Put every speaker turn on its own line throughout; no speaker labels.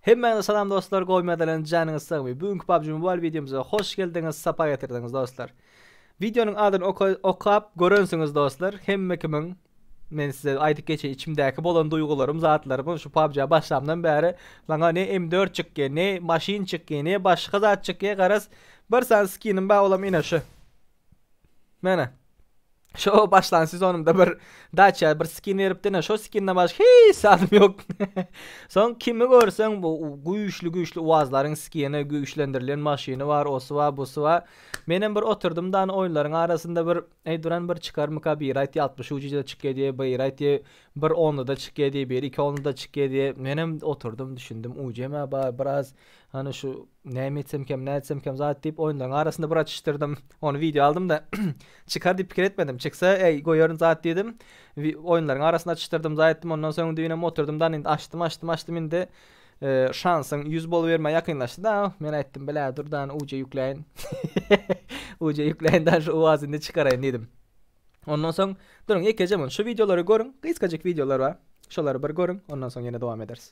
Hemmäňize salam dostlar goýmadalan janyňyz sagmy bu günki PUBG Mobile wideomyza hoş geldiňiz sapa getirdiňiz dostlar. Wideonyň adyny okap görensiňiz dostlar hemme kimin men size aýdyp geçeýin içimdäki bolan duýgularym zatlarym şu PUBG başlamdan bäri maňa ne M4 çykýa ne maşyn çykýa ne başga zat çykýa garaz bir sany skinim bar olam ine şu. Mene. Şo başlan sezonumda bir daça bir skin beripdi ne şo skinden başga hiç zadym yok. Soň kimi görseň bu güýçli güýçli uazlaryň skini güýçlendirilen maşyny bar osy bar busy bar. Men hem bir oturdym da oýunlaryň arasynda bir eý duran bir çykarmyka bir aýt 60 ucida çykýa diye bir aýt diye bir onluda çykýa diye bir iki onluda çykýa diye men hem oturdym düşündim ucema bar biraz hani şu Näme etsemkem, nätsemkem zat diýip, oýunlaryň arasynda bir açyşdyrdym. Ony wideo aldym-da, çykar diýip pikir etmedim. Çyksa, äý, goýaryn zat diýdim. Oýunlaryň arasynda açyşdyrdym, zaý etdim. Ondan soň düýnem oturdym da, indi açdym, açdym, açdym, indi şansyň ýüz bolubermä ýakynlaşdy-da. Men aýtdym, Bilä, dur da, uce ýükläýin. Uce ýükläýin da, şu uwaz indi çykaraýyn diýdim. Ondan soň, duruň, ýekeje munşy wideolary görüň, gysgajyk wideolar bar. Şolary bir görüň, ondan soň ýene dowam ederis.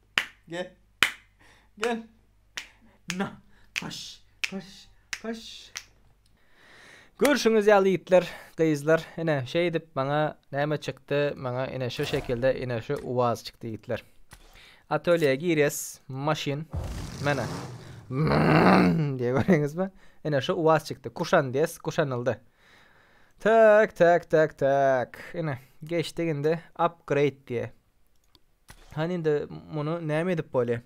Gel. Gel. Na. Paş. Paş. Paş. Görşüňiz ýaly ýigitler, gyzlar, ine, şeýdip maňa näme çykdy, maňa ine şu şekilde ine şu uaz çykdy ýigitler. Atölýä girýäs, maşyn, mena. Diýe göreňizmi? Ine şu uaz çykdy. Kuşan diýäs, kuşanyldy. Tak, tak, tak, tak. Ine, geçdik indi upgrade diýe. Hany indi muny näme edip bolýa?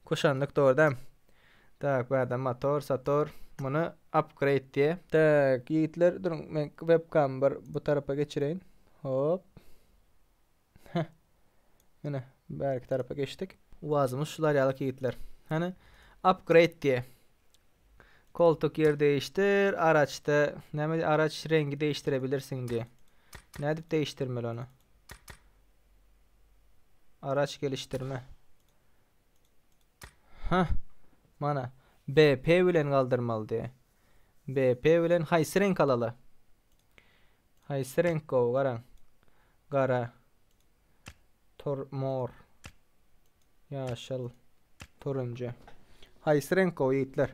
Kuşandyk dogryda. Tak bärde motor, sator. Muny upgrade diýe. Tak ýigitler duruň men webkamy bir bu tarapa geçireýin. Hop. Heh. Ine bärki tarapa geçdik. Wazymyz şular ýalyk ýigitler. Hany upgrade diýe. Koltuk ýer değiştir, araçda näme araç rengi değiştirebilirsiň diýe. Nädip değiştirmeli ony? Araç gelişdirme. Hah. Mana BP bilen galdyrmalydy. BP bilen haýsy reňk alaly? Haýsy reňk gowy garaň. Gara. Tor mor. Ýaşyl. Turunjy. Haýsy reňk gowy ýigitler?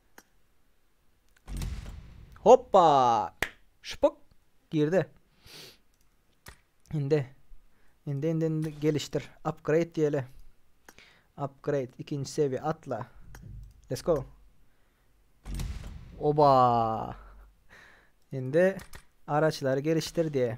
Hoppa! Şupuk! Girdi. Indi. Indi, indi, indi gelişdir. Upgrade diýeli. Upgrade. ikinji seviýe. Atla. Let's go. Oba! Indi araçlary gelişdir diýe.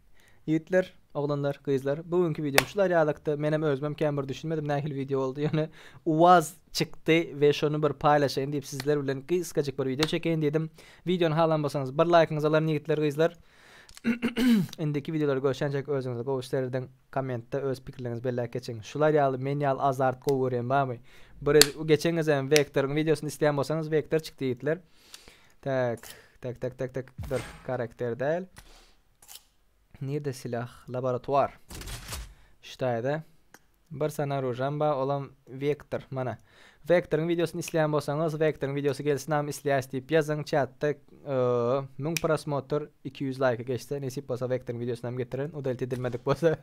Ýigitler, oglanlar, gyzlar bu günki wideom şular ýalykdy. Menem özümem kän bir düşünmedim nähili wideo boldy ýöne uwaz çykdy we şony bir paýlaşaýyn diýip sizler bilen gysgajyk bir wideo çekeýin diýdim. Wideony halan bolsaňyz bir laýkyňyzy alaryn ýigitler, gyzlar. Indiki wideolary görşänçäk özüňize gowy serediň, kommentde öz pikirleriňizi belläp geçiň. Şular ýaly men ýaly azart gowy görýän barmy? Bir geçen gezegem Vektoryň wideosyny isleýän bolsaňyz Vektor çykdy ýigitler. Tak, tak, tak, tak, tak, dur, karakter däl. Nirde silah? Laboratuar. Ştaýda. Bir sana ružam ba, olam Vektor. Mana. Vektoryň videosyny isleýän bolsaňyz, Vektoryň videosy gelsin am isleýäs diýip ýazyň çatda. Müň prosmotr, 200 laýka geçse, nesip bolsa Vektoryň videosyny hem getiren, udalit edilmedik bolsa.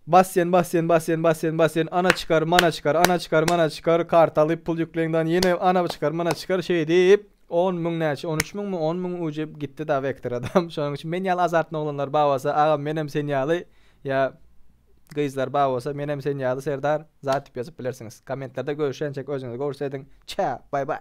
Basýan, basýan, basýan, basýan, basýan, ana çykar, mana çykar, ana çykar, mana çykar, kartaly pul ýükleňdan ýene ana çykar, mana çykar, şeýdip. On müň näçe on üç müňmi on müň ujyp gitdi da vektor adam şonuň üçin men ýaly azartny oglanlar bar bolsa agam menem sen ýaly ýa gyzlar bar bolsa menem sen ýaly serdar zat dip ýazyp bilersiňiz kommentlerde görüşençek özüňiz gowşediň çä bay bay.